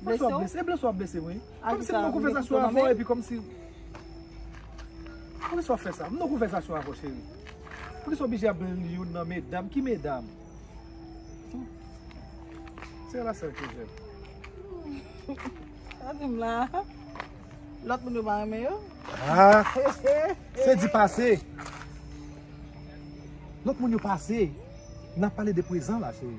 Blese w? E blese w ap blese m wi. Kòm si m poko fè sa sou avè w epi kòm si. Pou ki sa w fè sa? M poko fè sa sou avè w cheri. Pou ki sa w oblije ap blann youn nan medam? Ki medam? Se la sèl ke jèm. Sa di m la. Lòt moun yo pa renmen yo? Se di pase. Lòt moun yo pase. Nan pale de prezan la cheri.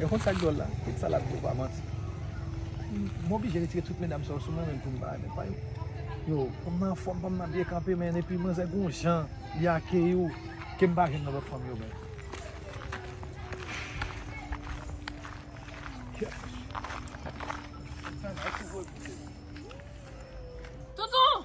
Yo konn sak dwòl la, tout sa lap di yo pa manti. M oblije retire tout medam sa yo sou mwen menm poum pa ale pa yo. Yo fanm nan anfòm, fanm nan byen kanpe men epi manzè gon jan li akeyi w kem pa jwenn nan lòt fanm yo menm. Toutou!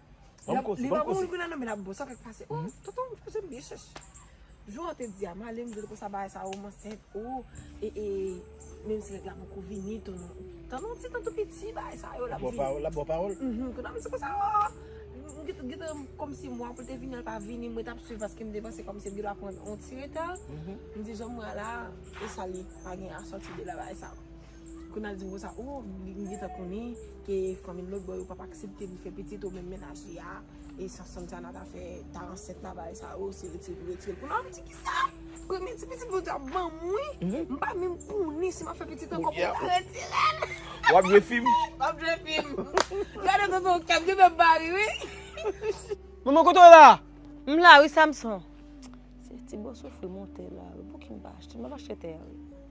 Banm kose, banm kose. Li pa nan men la bon sa kèk pase. Oh, tonton ou fè zèm byen chèch. Jou an te di a, male m di l konsa bagay sa ou m ansent. Oh, e e, menm si nèg la poko vini tou non. Tann on ti tan tou piti bagay sa yo l ap vini. Bon pawòl, l ap bon pawòl. Mph, konn ap di konsa oh, m gen gen tan kòm si mwa pou l te vini an l pa vini, mwen t ap swiv paske m te panse kòm si m te dwa pran on ti reta. M di jan mwa la, e sa l ye? Pa gen asòti de la bagay sa. Kunal di konsa oh li gentan konnen ke fanmi lotbò yo pap aksepte li fè pitit o menm mennaj li a e sa Santana ta fè ta ansent la bagay sa oh se retirel pou retirel Kunal ap di kisa premye ti pitit Bondye ap banm wi m pa menm konnen si map fè pitit ankò pou ta retirel Wap jwe fim Wap jwe fim Gade tonton kèm gen menm mari wi Manman kote w la M la wi Samson Se ti bò soufri monte la wi Pouki m pa achte m ap achte tè a wi.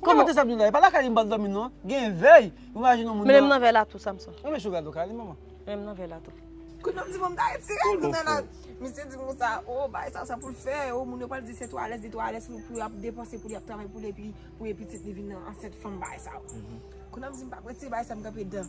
Ou ka mete Sabdoula, e pa lakay li m pral dòmi non. Gen vèy, imajine yon moun nan. Mennen m nan vèy la tou Samson. Mete Shouga dò kay li manman. Mennen m nan vèy la tou. Kounye a m di bon m ta retire l nan la. Misye di moun sa, oh bagay sa sa pou l fè, oh moun yo pral di se twò alèz, li twò alèz pou l ap depanse, pou li ap travay pou l epi pou pitit li vin ansent fanm bagay sa. Kounye a m di m pap retire bagay sa m kanpe dan.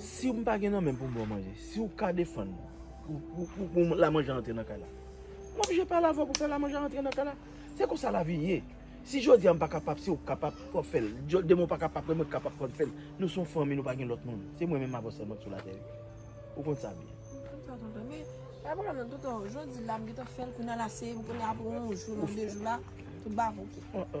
Si ou m pa gen nan menm pou m ba w manje, si ou ka defann pou lamanje a antre nan kay la, m oblije pale avè w pou fè lamanje a antre nan kay la. Se konsa lavi ye. Si jodi a m pa kapab, se ou k kapab pou w ap fè l. Demen ou pa kapab, se mwen ki kapab pou m fè l. Nou se yon fanmi, nou pa gen lòt moun. Se mwen menm avè w sèlman ki sou latè. Ou konn sa byen. M konn sa tonton. Men, pa gen pwoblèm non tonton. Jodi la m gentan fè l, kounye a l a seye m, kounye a apre yon jou, yon de jou la, tout bagay ok.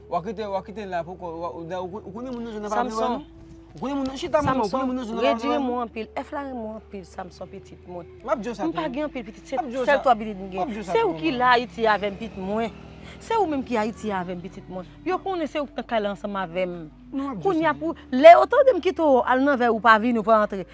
Wa kite, wa kite la poko, wa, ou da, ou konnen moun nan jwenn nan pa vle wè nou? Ou konnen moun nan, chita moun nan, ou konnen moun nan jwenn nan pa vle wè nou? Samson, rejye mwen anpil, F la renmen w anpil Samson pitit mwen. M ap di w sa tou. M pa gen anpil pitit, se sèl 3 pitit m gen. M ap di w sa tou. Se ou ki la Ayiti avè m pit mwen. Se ou menm ki Ayiti avè m pitit mwen. Yo konnen se ou ki nan kay la ansanm avè m. Kounya pou, lè yo tande m kite w al nan vèy ou pa vini ou pa antre.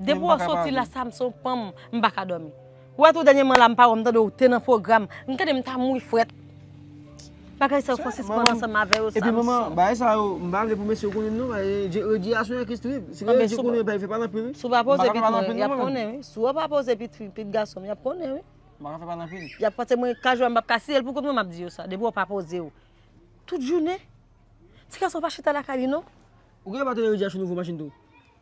Depi wap soti la Samson pranm m paka domi. Wè tou dènyeman la m pa wè w m tande w te nan pwogram m tande m ta mouri frèt. Bagay sa yo fò sispann ansanm avè yo Samson. Epi manman bagay sa yo m pa vle pou mesye yo konnin non bagay rediyason an ki strip. Si gen redi konnin epi fè pale anpil wi. Si w pa poze pit mwen yap konnen wi. Si w pa poze pit fi pit gason m yap konnen wi. M paka fè pale anpil. Yap panse mwen ka jwè m pap ka si el pou kont mwen map di yo sa depi w pa poze w tout jounen. Ti gason pa chita lakay li non. Ou gen bateri rediyason nouvo machin tou.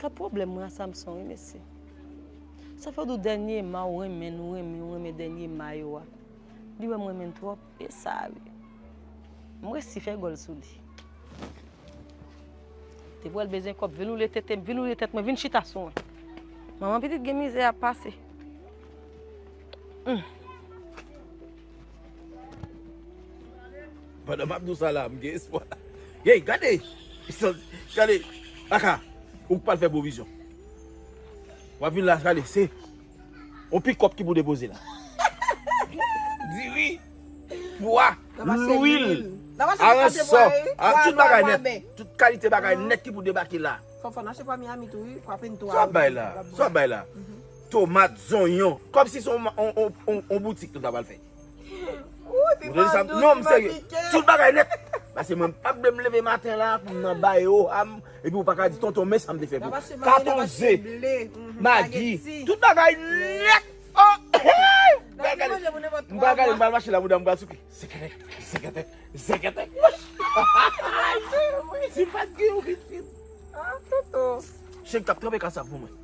Ka pwoblèm mwen a Samson wi mesye. Sa fè w di w dènye ma w renmen nou renmen w renmen dènye ma yo a. Li wè m renmen l twòp e sa a wi. M resi fè gòl sou li. Depi wè l bezwen kòb vin woule tete m, vin woule tèt mwen, vin chita sou mwen. Manman pitit gen mizè ap pase. Pandan map diw sa la m gen espwa. Hey gade gade aka ou pral fè pwovizyon. Wap vin la gade se yon pikòp ki pou depoze la. Diri, pwa, lwil, aransò, tout bagay nèt, tout kalite bagay nèt ki pou debake la. Sa wap bay la? tomat, zonyon. Kòmsi se yon boutik tout pral fèt. Ooh ti pa dous, ti pa pike. Tout bagay nèt. Pase mwen m pap vle leve maten la pou m nan bay ou a m epi ou paka di tonton men sa m te fè pou ou. Katon ze, magi, tout bagay nèt. M pral gade, m pral gade, m pral mache la bouda m pral souke. Zekete, zekete, zekete. Ti pat gen yon vit vit. Tonton. Cheri kap tranpe kasav pou mwen.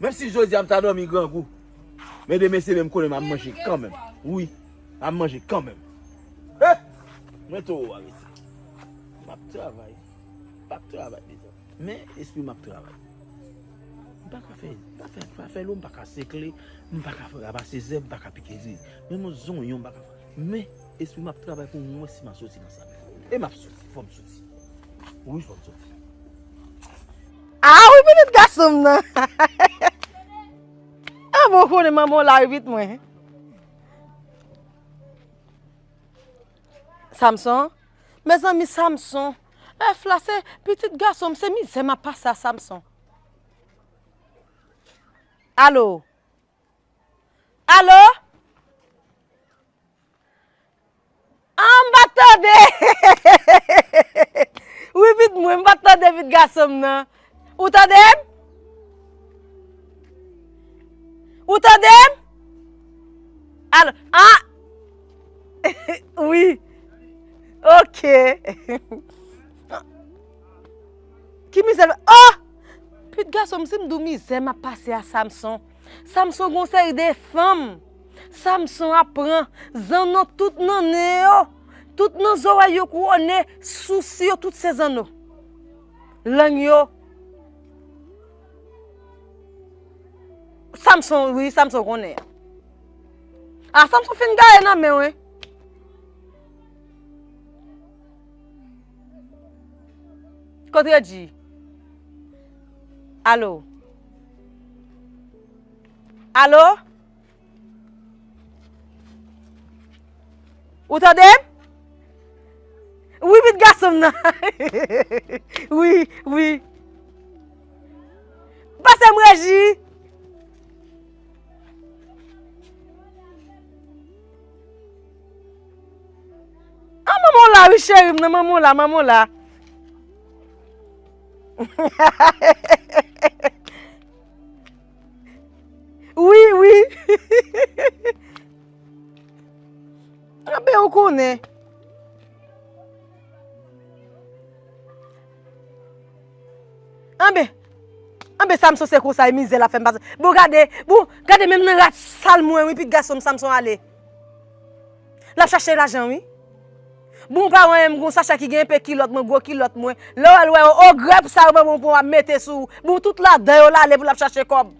Menm si jodi a m ta dòmi grangou, men demen se menm koulè m ap manje kanmenm. Wi, m ap manje kanmenm. He! Mwen towo a rete. M ap travay. M pa p travay mezanmi. Men, lespri m ap travay. M pa ka fè, m pa ka fè afè lou, m pa ka sekle, m pa ka ramase zèb, m pa ka pike zye. Men m zonyon m pa ka fè. Men, lespri m ap travay pou m wè si m a soti nan sa m ye. E m ap soti. Fò m soti. Wi, fò m soti. Ah wi pitit gason m nan. Ah bon ou konnen manman w la wi pitit mwen. Samson, mezanmi Samson, èf la se pitit gason m se mizè map pase a Samson. Allo? Allo? Ahh m pat tande wi vit mwen, m pat tande vit gason m nan. Ou tande m? Ou tande m? Alo, ah wi ok. Ki mizè, oh! Vit gason m si m di w mizè m ap pase a Samson. Samson gon seri de fanm. Samson ap pran zanno tout nan nen yo, tout nan zorèy yo kouwone, sousi yo tout se zanno. Lang yo Samson wi Samson konnen. A Samson fin gaye nan menw wi. Kot Regi? Alo. Alo? Ou tande m? Wi pit gason m nan. Wi, wi. Pase m reji. An manman w la wi cheri m nan, manman w la, manman w la. Wi wi Anben ou konnen Anben Anben Samson se konsa e mizè lap fèm pase Bon gade Bon gade menm nan rat sal mwen wi pitit gason m Samson ale Lap chache lajan wi. Bon pa wè m gon sachè ki gen enpe kilòt mwen gwo kilòt mwen lè w al wè yo o grèp sa yo ban bon pou w ap mete sou ou bon tout ladan yo l ale pou l ap chache kòb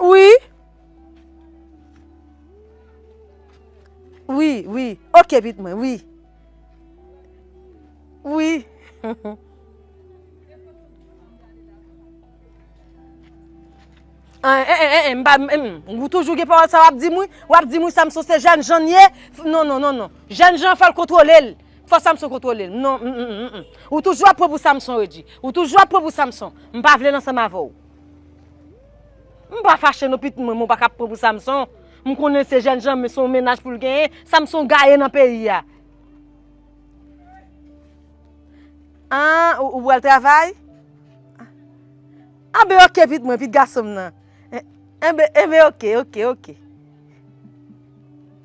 wi wi wi ok pit mwen wi wi. An, en, en, en, en, m pa, m, m, m, ou toujou gen pawòl sa wap di m wi, wap di m wi Samson se jènjan n ye, f, non, non, non, non, jènjan an fò l kontwole l, fò Samson kontwole l, non, m, m, m, m, m, ou toujou ap pran pou Samson Reggie, ou toujou ap pran pou Samson, m pa vle l ansanm avè w. M pa fache non pitit mwen men w pa ka ap pran pou Samson, m konnen l se jènjan men se yon mennaj pou l genyen, Samson gaye nan peyi a. Ahh ou pral travay? Ahh ben ok pit mwen, pit gason m nan. Enben ok, ok, ok.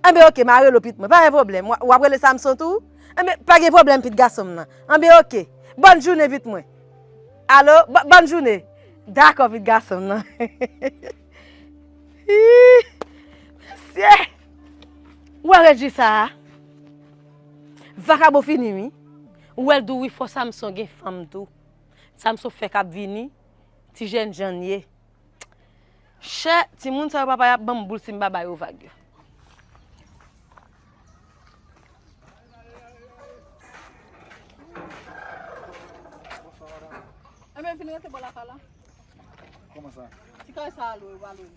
Enben ok, ma rele w pit mwen, pa gen pwoblèm. W ap rele Samson tou? Enben pa gen pwoblèm pit gason m nan. Enben ok. Bòn jounen pit mwen. Alo, bòn jounen. Dakò pit gason m nan. Hii! Mesye! Ou wè rejwi sa a? Vakabon fini wi. Ou wèl tou wi fò Samson gen fanm tou Samson fèk ap vini ti jènjann ye chè timoun sa yo papa yap banm boul sim pa ba yo vag yo. Ebyen vin rete bò la pa la. Koman sa? Ti kay sa a lwe ou pa lwe li.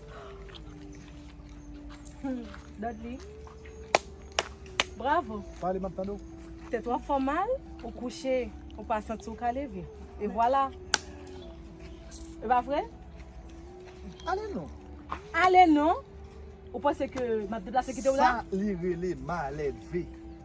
Dodly. Bravo. Pale map tande ou. Tèt ou ap fè mal, ou kouche, ou pa santi ou ka leve. E vwala. E pa vre? Ale non. Ale non. Ou panse ke map deplase kite ou la? Sa li rele maleve.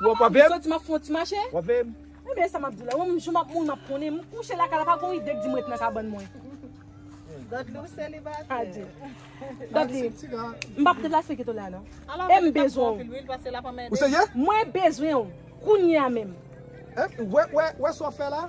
Wap wap veyem? Soti map fon ti mache. Wap veyem? Mwen men sa map di la. Wap mwen map moun map konnen. Mwen kouche la kala pa gon ide k di mwen ret nan kabann mwen. Dodly ou selibatè. Adi. Dodly. Mbap deplase kito la non. E m bezwen ou. Ou se ye? Mwen bezwen ou. Kounye a menm. Wè wè wè sa wap fè la?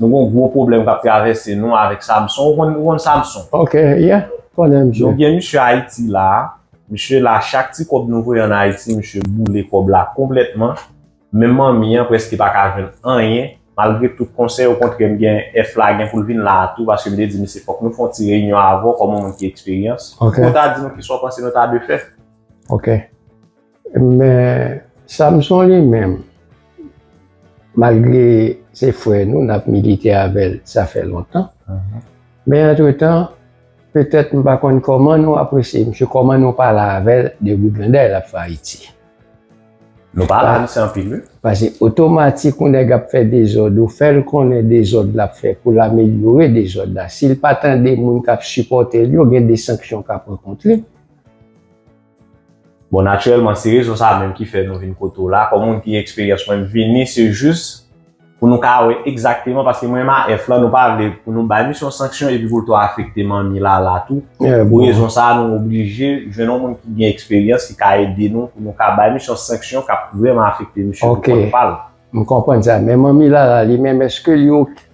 Nou gon gwo pwoblèm kap travèse nou avèk Samson. Ou konn ou konn Samson? Ok, yeah. M konnen misye. Nou gen misye Ayiti la a. Misye la a. Chak ti kòb nou voye an Ayiti, misye boule kòb la konplètman. Menm manmi an prèske pa ka jwenn anyen. Malgre tout konsèy, okontrè m gen F la gen pou l vin la a tou paske m te di misye fòk nou fè yon ti reyinyon avè w kòm yon moun ki eksperyans. Ok. Pou w ta di nou kisa w panse nou ta dwe fè. Ok. Men Samson li menm malgre se frè nou nap milite avèl sa fè lontan men antretan petèt m pa konn kòman nou apresye misye kòman nou pale avèl de briganday lap fè ayiti Nou pale avèl se anpil wi. Pase otomatik yon nèg ap fè dezòd ou fèl konnen dezòd lap fè poul amelyore dezòd la sil pa tande moun kap sipòtel yo gen de sanksyon ka pran kont li. Bon naturèlman se rezon sa menm ki fè nou vin kote w la, kòm ou di eksperyans mwen m vini se jis pou nou ka wè egzakteman paske mwen MAF lan nou pa vle pou nou bay misye yon sanksyon epi pou l to afekte manmi Lala tou, pou rezon sa nou oblije jwenn yon moun ki gen eksperyans ki ka ede nou pou nou ka bay misye yon sanksyon k ap vrèman afekte misye pou kont pa l. Ok m konprann sa men manmi Lala li menm èske li ok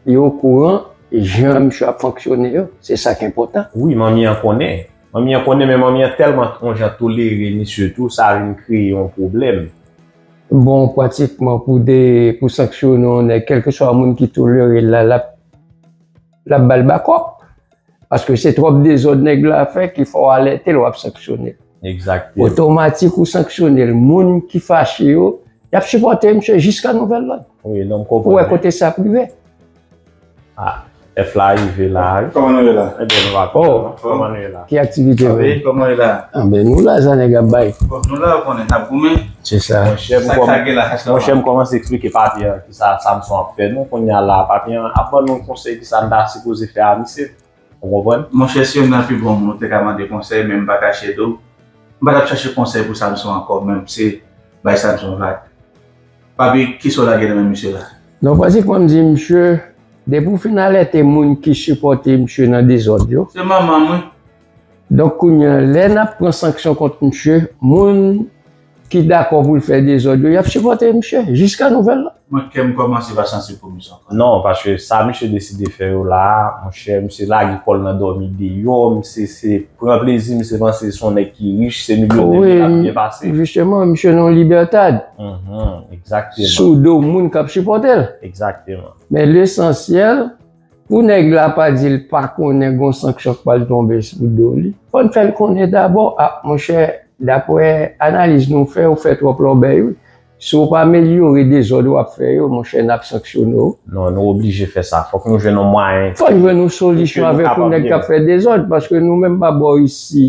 li okouran jan misye ap fonksyone yo se sa k enpòtan. Wi manmi an konnen Manmi an konnen men manmi an tèlman t on jan tolere misye tou sa vin kreye yon pwoblèm. Bon pratikman pou 2 pou sanksyone yon nèg kèlkeswa moun ki tolerel la lap lap bal bakòp paske se twòp dezòd nèg la fè ki fè w alètel wap sanksyonel Egzakteman. otomatik ou sanksyonel moun ki fache yo yap sipòte misye jiska nouvèl lòd Wi non m pou wè konprann. kote sa ap rive. Ah F la rive la wi. Koman nou ye la? Ebyen nou la oh koman nou ye la? Ki aktivite nou ye? Koman nou ye la? Anben nou la sa nèg ap bay. Bon nou la ou konnen nap goumen. Se sa. Sak sa gen la hash la? Monchè m kòmanse eksplike papi an kisa Samson ap fè nou kounya la papi an ap ban nou konsèy kisa n ta sipoze fè a misye. Ou konprann? Monchè si youn nan pi bon moun ou te ka mande konsèy men m pa kache di w, m pa t ap chache konsèy pou Samson ankò men m se bay Samson vag. Papi, ki sa w lage nan men misye la? Non pratikman m di misye, depi w fin alète moun ki sipòte misye nan dezòd yo. Se manman m wi. Donk kounye an lè n ap pran sanksyon kont misye, moun. ki dakò pou l fè dezòd yo, y ap sipòte misye jiska nouvèl la. Mwen kèm kòmanse pa santi pou misye ankò. Non, paske sa misye deside fè yo la a, monchè, misye lage kò l nan dòmi deyò, misye se pran plezi, misye panse se yon nèg ki rich, se milyonè misye ap byen pase. Jisteman, misye nan yon libètad. Egzakteman. Sou do moun k ap sipòte l. Egzakteman. Men lesansyèl. Pou nèg la pa di l pa konnen gon sanksyon k pral tonbe sou do li, fò n fè l konnen dabò, a monchè daprè analiz nou fè ou fè twòp lòbèy wi, si w pa amelyore dezòd w ap fè yo monchè n ap sanksyone w. Non, nou oblije fè sa. Fòk nou jwenn yon mwayen. Fòk jwenn yon solisyon avèk yon nèg k ap fè dezòd paske nou menm pa bò isi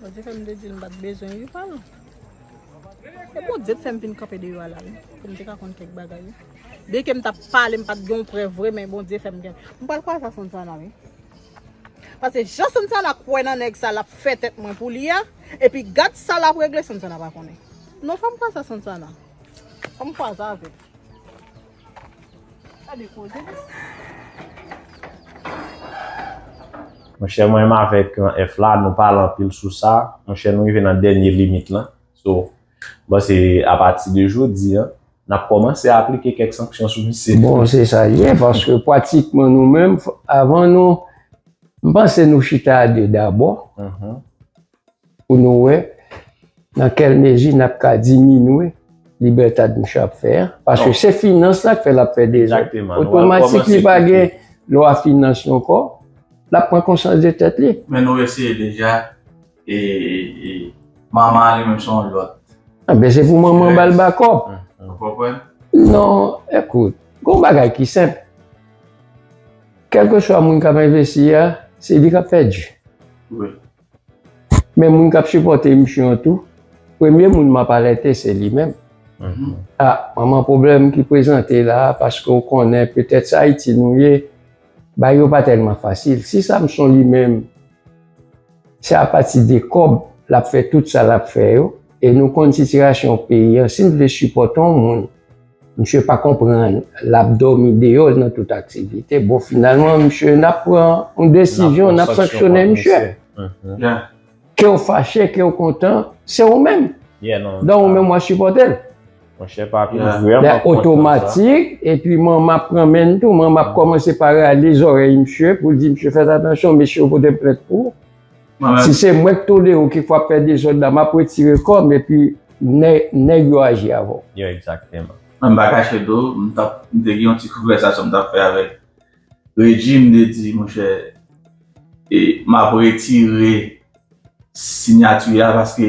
Bondye fèm te dil m pat bezwen ui pal E Bondye t fèm vin kanpe deyò a la wi pou m te ka konn kèk bagay wi Byen ke m tap pale m pat gen yon prèv vre men Bondye fèm gen M pral kwaze ak Sonsana wi Pase jan Sonsana kwè nan nèg sa lap fè tèt mwen pou li a epi gad sa lap regle Sonsana pa konnen non fòm kwaze ak Sonsana fòm kwaze avèl. Monchè mwen menm avèk F la nou pale anpil sou sa, monchè nou rive nan dènye limit lan. So, bon se apati de jodi an, n ap kòmanse aplike kèk sanksyon sou misye. Bon se sa l ye, paske pratikman nou menm avan nou, m panse nou chita a 2 dabò. Pou nou wè nan kèl mezi n ap ka diminwe Libertad mouche ap fè a. Paske se finans la k fè l ap fè dezòd. Otomatik li pa gen lwa finans yo ankò. L ap pran konsyans de tèt li. Men nou eseye deja e Mama a li menm se yon lòt. Anben se pou Mama ba l bakòp. Ou konprann? Non, ekout. Gen yon bagay ki senp. Kèlkeswa moun k ap envesti a, se li k ap pèdi. Wi. Men moun kap sipòte emisyon an tou, premye moun map alète se li menm. A, manman pwoblèm ki prezante la a paske ou konnen petèt sa Ayiti nou ye, bagay yo pa tèlman fasil. Si Samson li menm, se apati de kòb lap fè tout sa lap fè yo e nou konn sitirasyon peyi an, si n vle sipòte yon moun, Misye pa konprann lap domi deyol nan tout aktivite bon finalman misye nap pran yon desizyon nap sanksyone misye kew fache kew kontan se ou menm dan ou menm wap sipòtel lè otomatik epi man map pran menl tou man map kòmanse paralize zòrèy misye poul di misye fèt atansyon mesye yo pote plent pou ou. Si se mwen k tolere w ki fwa fè dezòd la map retire kò m epi nèg yo aji avè w. Yo exactement. Mwen pa kache do, m tap, m te gen yon ti konvèsasyon m tap fè avèk Regi, m te di monchè e map retire sinyati a paske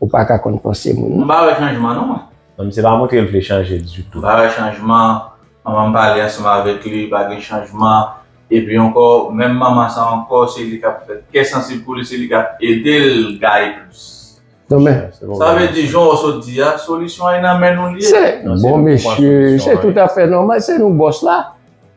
Ou pa ka konn panse moun non. M pa wè chanjman non mwen. Non misye pa montre l vle chanje ditou. M pa wè chanjman, manman m pale ansanm avèk li pa gen chanjman, epi ankò menm manman sa ankò se li kap fè kè sansib pou li se li kap ede l gaye plis. Non men. Sa vle di jan w sot di a solisyon an e nan men nou l ye. Se bon mesye se tout afè nòmal se nou bòs la.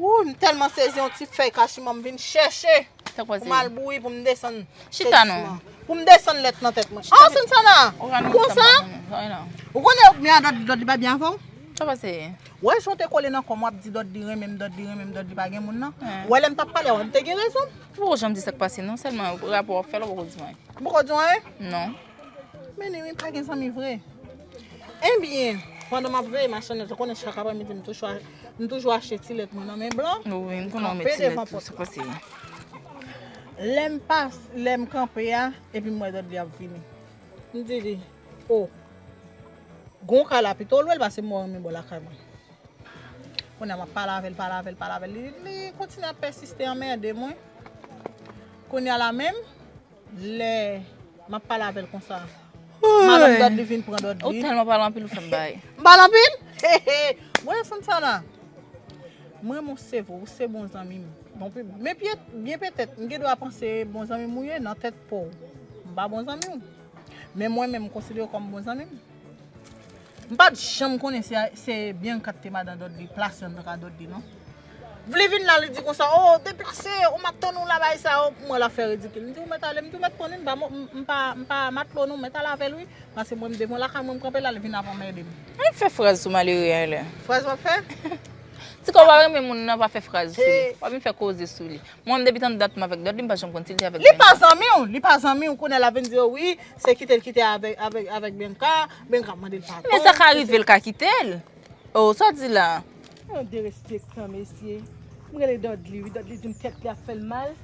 Wouy m telman sezi yon ti fèy kachiman m vin chèche pou m al bouyi pou m desann se disman pou m desann lèt nan tèt mwen ah Sansana ou konsa ou konnen ou byen ak Dòdly pa byen avè w ou wè jan w te kole nan kò m wap di Dòdly renmen m Dòdly renmen m Dòdly pa gen moun nan ou wè lè m tap pale wè m te gen rezon m ou poko janm di sa k pase non sèlman rapò wap fè la ou poko di m anyen ou poko di w anyen menni wi m pa gen zanmi vre. Ebyen, pandan map veye machann yo, ou konnen chak aprè midi m toujou achte ti lèt mwen nan men blan, m kanpe devan pòt la. Lèm pas, lèm kanpe a, epi m wè Dòdli ap vini. M di li, o, gon kay la pito lwen pase mwen renmen bò lakay mwen. Kounye a map pale avèl, pale avèl, pale avèl, li kontinye ap pèsiste anmède mwen. Kounye a la menm, Lè map pale avèl konsa. Madanm dòd li vin pran dòd li. Ou tèlman pale anpil ou fèm baye. M pale anpil? Bon Santana. M renmen w se vre, ou se bon zanmi m. Men byen petèt m gen dwa panse bon zanmi m ou ye nan tèt pa w. M pa bon zanmi w. Men mwen menm m konsidere w kòm bon zanmi m. M pat janm konnen si se Bianca ki te madan Dudley plas nan ka Dudley non. Vle vin la li di konsa oh deplase ou map tann ou la bay sa oh pou mwen lap fè ridikil m di ou mèt ale m di ou mèt konn wi m pa m pa matlo non mèt al avèl wi pase mwen m devan lakay mwen m kanpe la li vin ap anmède m. Annik fè fraz sou malere a la. Fraz wap fè? Ti kò pa renmen moun nan pa fè fraz sou li. Pa vin fè koze sou li. Mwen depi tann dat m avèk Dudley m pa janm konn si l te avèk Bianca. Li pa zanmi w, li pa zanmi w kounye a lap vin di w wi se kite l kite avèk Bianca Men sa ka rive l ka kite l. Oh sa w di la a. Yon derespektan mesye. M rele Dudley wi, Dudley di m tèt li ap fè l mal.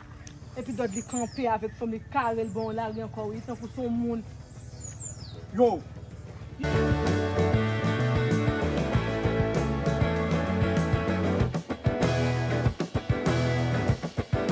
Epi Dudley kanpe avèk fanm li kare l bò yon lari ankò wi tankou s on moun.